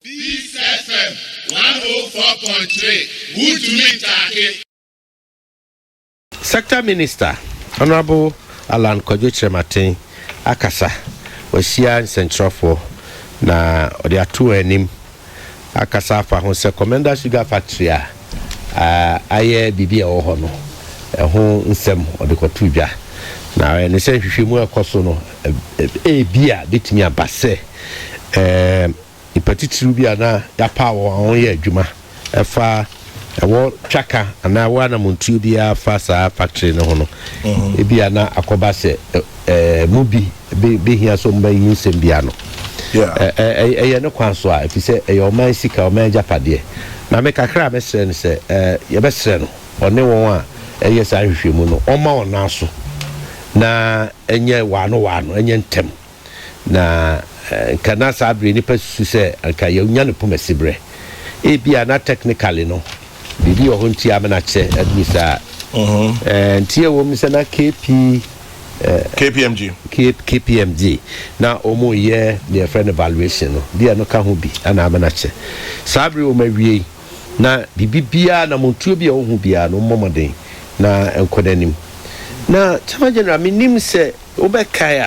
Peace FM one oh four point three wuntumi ntaake. Sector Minister, Honourable Allan Kwadwo Kyerematen akasa. Wahyia nsɛnkyerɛwfoɔ na ɔde ato wɔn anim akasa afa ho sɛ Commenda Sugar Factory a ayɛ biribi a ɛwɔ hɔ no ho nsɛm ɔde kɔtoo dwa. Na ɔyɛ ne sɛ nhwehwɛmu a ɛkɔ so no ebia betumi aba sɛ nnipa titiriw bi a na yɛapaw wɔn a wɔyɛ adwuma ɛfa ɛwɔ twaka anaa ɛwɔ anamontuo biara fa saa factory no ho no, ebia na akɔba sɛ ɛmu bi bɛhia sɛ wɔbɛyi nsɛm bi ano. Ɛyɛ ne kwan so a, ɛfiri sɛ ɛyɛ ɔman sika, ɔman agyapadeɛ. Na me kakra a mɛsrɛ no sɛ, yɛbɛsrɛ no ɔne wɔn a ɛyɛ saa nhwehwɛmu no, ɔmma wɔn nan so na ɛnyɛ waano waano, ɛnyɛ ntɛm. Na anka na saa bere nnipa susu sɛ anka yɛanya no poma siberɛ. Ebia na technically no, biribi wɔ hɔ nti ama no akyɛ aduru saa. Ɛɛ, nti ɛwom sɛ na KP, KPMG. K- KPMG, na wɔyɛ deɛ yɛfrɛ no valuation no, bi a ɛno ka ho bi ana ama no akyɛ. Saa bere wɔn awiei, na biribi biara, namontuo bi a wɔhu biara no, mommɔ mmɔden na ɛnkɔ n'anim. Na Chairman General, mennim sɛ Wobɛkae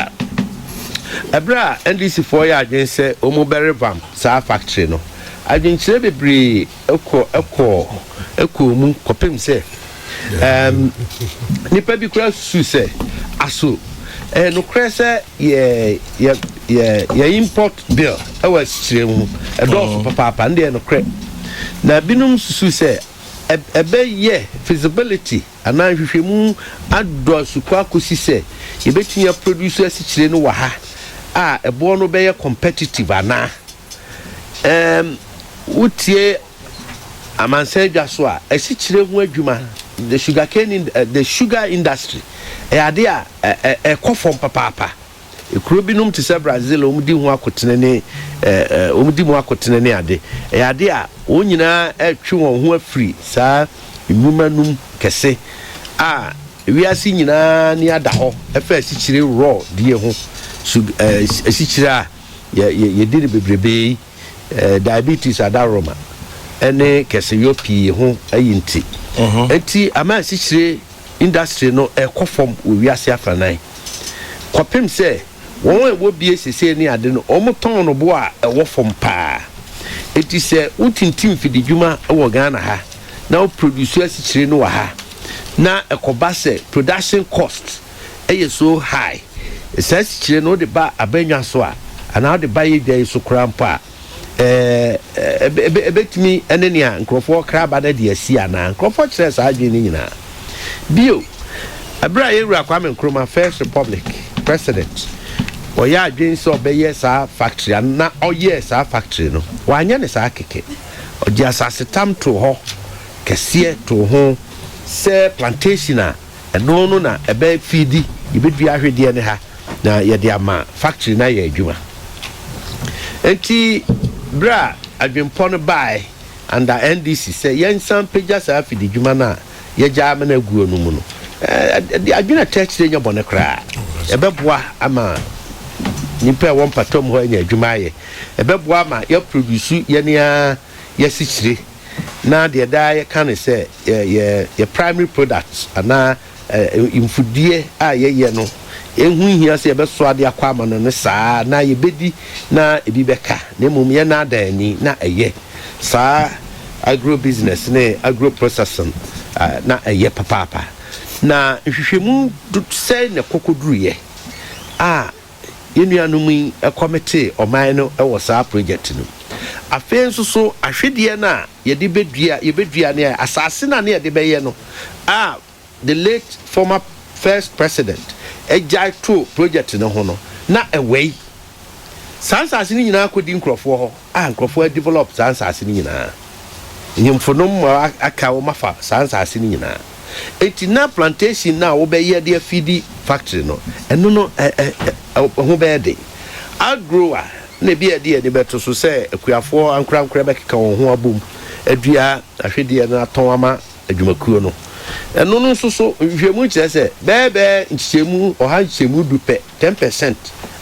a, bere a NDCfoɔ yɛɛ adwene sɛ wɔbɛrevamp saa factory no, adwenkyerɛ bebree kɔ kɔɔ kɔɔ mu kɔpem sɛ ɛɛm nnipa bi koraa susuu sɛ aso ɛyɛ nokorɛ sɛ yɛ yɛ yɛ yɛ import bill wɔ asikyire ho ɛdɔɔso papaapa no deɛ ɛyɛ nokorɛ na binom susuu sɛ ɛbɛyɛ feasibility. Anaa nhwehwɛmu adɔɔso kɔ akosi sɛ yɛbɛtumi a produce asikyire no wɔ ha a ɛboɔ no bɛyɛ competitive anaa? Ɛɛm, wotie amansan adwa so a, asikyire ho adwuma, the sugarcane, the sugar industry, ɛyɛ adeɛ a ɛkɔ fam papaapa. Kuro binom te sɛ Brazil a wɔdi ho akotene ne wɔdi mu akotene ne ade, ɛyɛ ade a wɔn nyinaa retwe wɔn ho afiri saa nnwuma no mu kɛse a wiase nyinaa ani ada hɔ ɛfa asikyire raw die ho so asikyire a yɛdi no bebrebe yi. diabetes adaworoma ne kɛseyɔ pii ho ayi nti. Enti amansikyire industry no rekɔ fam wɔ wiase afanan kɔpem sɛ wɔn a ɛwɔ bie sesei ne ade no wɔtɔn no bo a ɛwɔ fam paa. Enti sɛ wotintim mfididwuma wɔ Ghana ha na wo produce asikyire no wɔ ha na ɛkɔba sɛ production cost yɛ so high. Saa asikyire no wode ba abannwa so a, anaa wode ba yɛ dwa yi so koraa mpo a, ɛɛ, ɛbɛtumi ne nea nkurɔfoɔ kra aba no de asi anaa? Nkurɔfoɔ kyerɛɛ saa adwene no nyinaa. Bio, ɛberɛ a yɛn Wura Kwame Nkrumah, First Republic President, ɔyɛ adwene sɛ ɔbɛyɛ saa factory ano na ɔyɛɛ saa factory no, wanyɛ no saa kɛkɛ. Ɔde asasetam too hɔ kɛseɛ too ho sɛ plantation a, Ɛno no na ɛbɛyɛ fiidi yɛbɛdua ahwedeɛ no ha na yɛde ama factory no ayɛ adwuma. Nti berɛ a adwenpɔ no baae under NDC sɛ yɛnsan mpagya saa afididwuma no a yɛgya ama no aguo no mu no, adwene a ɛtaa akyire nyɛ bɔne koraa. Ɛbɛboa ama nnipa a ɛwɔ mpɔtam hɔ anya adwuma ayɛ. Ɛbɛboa ama yɛaproduce yɛn ara yɛn asikyire. na deɛ daa yɛka ne sɛ yɛ yɛ yɛ primary product anaa ɛ mfudeɛ a yɛyɛ no ɛho nhia sɛ yɛbɛso adeɛ akɔ ama no ne saa na yɛbɛdi na ebi bɛka na mmom yɛnnaadaa ani na ɛyɛ saa agro business ne agro processing ɛ na ɛyɛ papaapa na nhwehwɛmu sɛn na ɛkɔkɔduruiɛ a Yɛn nuanom yi kɔmetee ɔman no wɔ saa projɛte no mu. Afei nso so ahwedeɛ no a yɛde bɛdua, yɛbɛdua no a, asaase no a na yɛde bɛyɛ no a the late former first president gyae too projɛte no ho no, na ɛwɛe. Saa nsaase no nyinaa kɔdi nkurɔfoɔ hɔ. a nkurɔfoɔ a develop saa nsaase no nyinaa nyimfo nom ma aka wɔn afa saa nsaase no nyinaa enti na plantation no a wɔbɛyɛ de afidi factory no ɛno no ɛ ɛ ɛ ho bɛyɛ den agro a na ebi a ɛde ani bɛto so sɛ akuafoɔ ankorankorɛ bɛkeka wɔn ho abom adua ahwedeɛ no atɔn ama adwumakuo no ɛno no nso so nhwehwɛmu kyerɛ sɛ bɛɛbɛɛ nkyekyɛmu ɔha nkyekyɛmu du pɛ Ten percent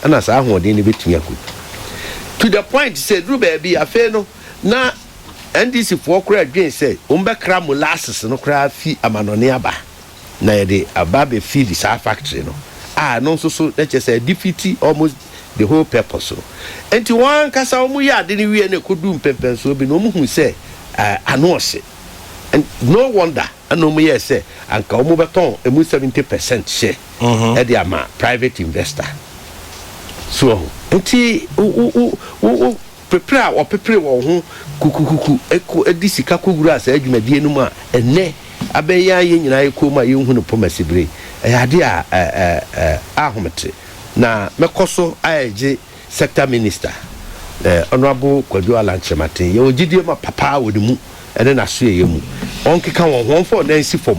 na saa ahoɔden no bɛtumi akɔdu. To the point sɛ ɛduru baabi afei no na NDC foɔ koraa dwen sɛ wɔn bɛkra molasses no koraa fi amanɔne aba na yɛde aba abɛ feed saa factory no a ɛno nso so na kyerɛ sɛ ɛdefiti almost the whole purpose no. Nti wɔn ankasa wɔn yɛ ade no wie na ɛkɔdu mpɛmpɛnsoɔ bi no wɔn hu sɛ eh, ano ɔhye. And no wonder ɛna wɔn yɛɛ sɛ anka wɔn bɛtɔn ɛmu 70 percent share. de ama private investor. So wahu? Nti wo wo wo wo wo pepere a wɔpepere wɔn ho kukukuku kɔ de sika kɔwuraa saa dwumadie no mu a ɛnnɛ abɛn yɛn a yɛn nyinaa yɛ koom a yɛnhu no Pomasi bere yi, ɛyɛ adeɛ a ɛ ɛ ɛ ahomete. Na mɛkɔ so ayɛgye. Sector Minister, Honourable Kwadwo Allan Kyerematen, yɛwɔ gyedie ma papa wɔ ne mu ne n'asoɛeɛ mu. Wɔnkeka wɔn ho, wɔmfa wɔn nan nsi fam,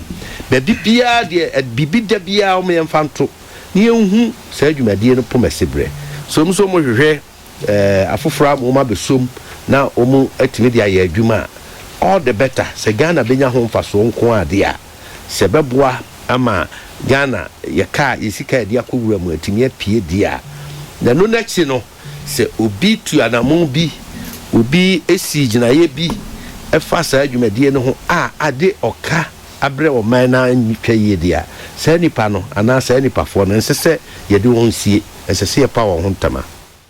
baabi biara deɛ ɛd biribi da biara wɔn yɛmfa nto, na yɛnhu saa dwumadie no pomasiberɛ. So wɔn nso wɔhwehwɛ eh, afoforɔ ama wɔn abɛso mu na wɔatumi de ayɛ adwuma a, all the better. Sɛ Ghana bɛnya ho mfasoɔ nko ara deɛ a. sɛ ɛbɛboa ama Ghana yɛ kaa yɛ sika yɛde akɔ wura mu atumi apue deɛ a, na ɛno no akyi no sɛ obi tu anamon bi, obi si gyinaeɛ bi ɛfa saa dwumadie no ho a ade ɔka abrɛ ɔman no a ntwa yie deɛ a, saa nipa no anaa saa nipafoɔ no ɛnsɛ sɛ yɛde wɔn sie, ɛsɛ sɛ yɛpa wɔn ho ntama.